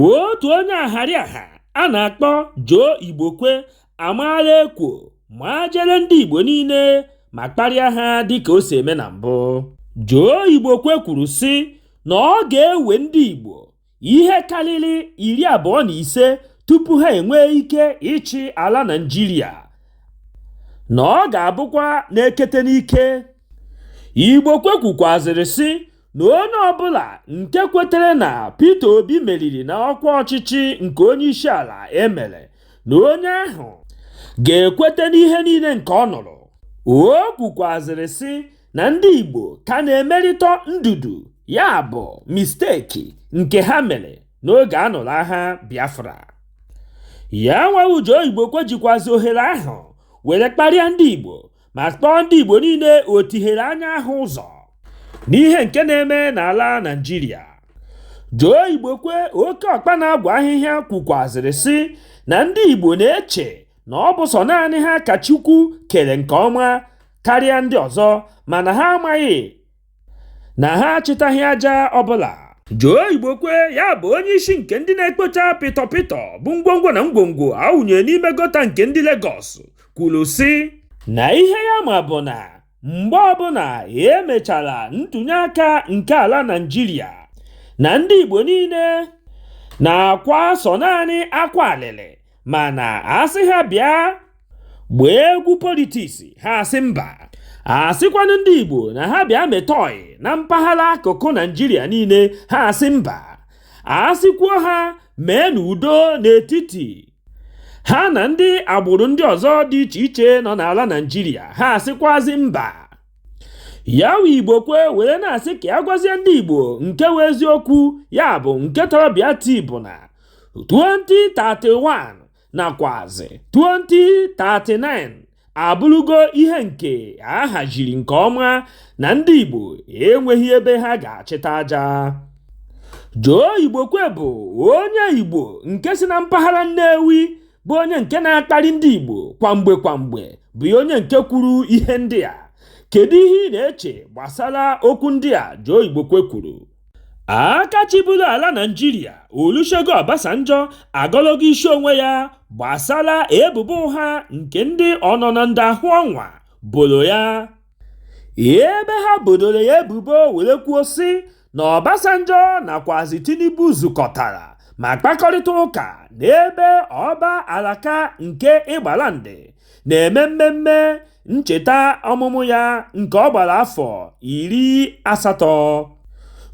otu onye ahariaha a na-akpọ Joe Igbokwe amaala ekwo ma jere ndị Igbo niile ma kparịa ha dịka o si eme na mbụ Joe Igbokwe kwuru sị na ọ ga-ewe ndị Igbo ihe karịrị iri abụọ na ise tupu ha enwee ike ịchị ala Naịjirịa na ọ ga-abụkwa n'ekete n'ike Igbokwe kwukwazịrị sị na onye ọbụla nke kwetere na Peter Obi meriri na ọkwa ọchịchị nke onye isi ala emere na onye ahụ ga-ekweta n'ihe niile nke ọ nụrụ o kwukwazịrị sị na ndị Igbo ka na-emerịta ndudu ya bụ misteki nke ha mere n'oge a nụrụ agha Biafra ya nwa wụ Joe Igbokwe jikwazi ohere ahụ were kparịa ndị Igbo ma kpọọ ndị Igbo niile otihere anya ahụ ụzọ n'ihe nke na-eme n'ala Naịjirịa Joe Igbokwe oke ọkpa na-agwa ahịhịa kwukwazịrị sị na ndị Igbo na-eche na ọ bụ sọ naanị ha ka Chukwu kere nke ọma karịa ndị ọzọ mana ha amaghị na ha achịtaghị aja ọbụla Joe Igbokwe ya bụ onye isi nke ndị na-ekpocha pịtọ pịtọ bụ ngwongwo na ngwongwo a wụnyere n'ime gota nke ndị Lagos kwuru sị na ihe ya ma bụ na mgbe ọbụla emechara ntụnye aka nke ala Naịjirịa na ndị Igbo niile na-akwa sọ naanị akwa alịlị mana asị ha bịa gbaa egwu politiks ha asị mba asịkwanụ ndị Igbo na ha bịa meta ọyị na mpaghara akụkụ Naijiria niile ha asị mba asịkwuo ha mee n'udo n'etiti ha na ndị agbụrụ ndị ọzọ dị iche iche nọ n'ala Naijiria ha asịkwazi mba ya wụ Igbokwe were na-asị ka ya gwazie ndị igbo nke wụ eziokwu ya bụ nke tọrọ bịa tii bụ na 2031 nakwazi 2039 abụrụgo ihe nke a haziri nke ọma na ndị Igbo enweghị ebe ha ga-achịta aja Joe Igbokwe bụ onye Igbo nke si na mpaghara Nnewi bụ onye nke na-akparị ndị Igbo kwamgbe kwamgbe bụ onye nke kwuru ihe ndị a kedu ihe ị na-eche gbasara okwu ndị a Joe Igbokwe kwuru Aka chịburu ala Naịjirịa Olusegun Obasanjo agọlọgo isi onwe ya gbasara ebubo ụgha nke ndị ọnọ na ndo ahụ ọnwa boro ya, ebe ha bodoro ya ebubo were kwuo sị na Obasanjo nakwazị Tinubu zukọtara ma kpakọrịta ụka n'ebe Ọba Alake nke Egbaland na-eme mmemme ncheta ọmụmụ ya nke ọ gbara afọ iri asatọ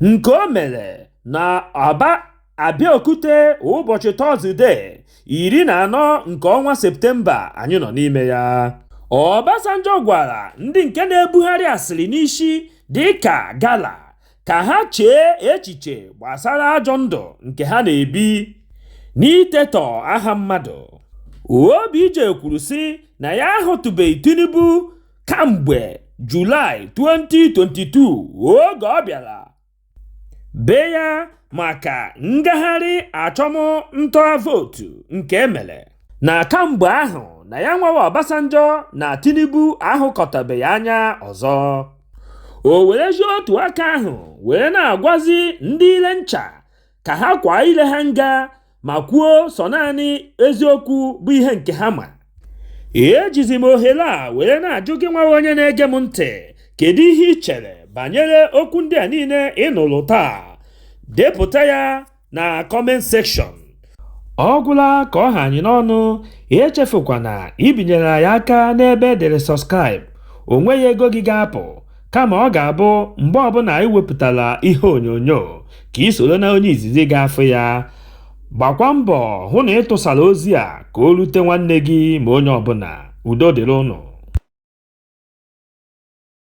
nke o mere na Aba Abeokuta ụbọchị Tọzde iri na anọ nke ọnwa Septemba anyị nọ n'ime ya. Obasanjo gwara ndị nke na-ebugharị asịrị n'isi dịka gala ka ha chee echiche gbasara ajọ ndụ nke ha na-ebi n'itetọ aha mmadụ. Obj kwuru sị na ya ahụtụbeghị Tinubu kamgbe Julaị 2022 oge ọ bịara be ya maka ngagharị achọmnta vootu nke emere na kamgbe ahụ na ya nwawa Obasanjo na Tinubu ahụkọtabeghị anya ọzọ. o werezi otu aka ahụ wee na-agwazi ndị ile ncha ka ha kwaa ile ha nga ma kwuo sọ naanị eziokwu bụ ihe nke ha ma ejizi m ohere a were na-ajụ gị nwawa onye na-ege m ntị kedu ihe i chere banyere okwu ndị a niile ị nụrụ taa depụta ya na comment section ọ gwụla ka ọ ha anyị n'ọnụ echefukwana ibinyere anyị aka n'ebe edere subscribe o nweghị ego gị ga-apụ kama ọ ga-abụ mgbe ọbụla anyị wepụtara ihe onyonyo ka i soro na onye izizi ga-afụ ya gbakwa mbọ hụ na ị tụsara ozi a ka o rute nwanne gị ma onye ọbụla udo dịrị unu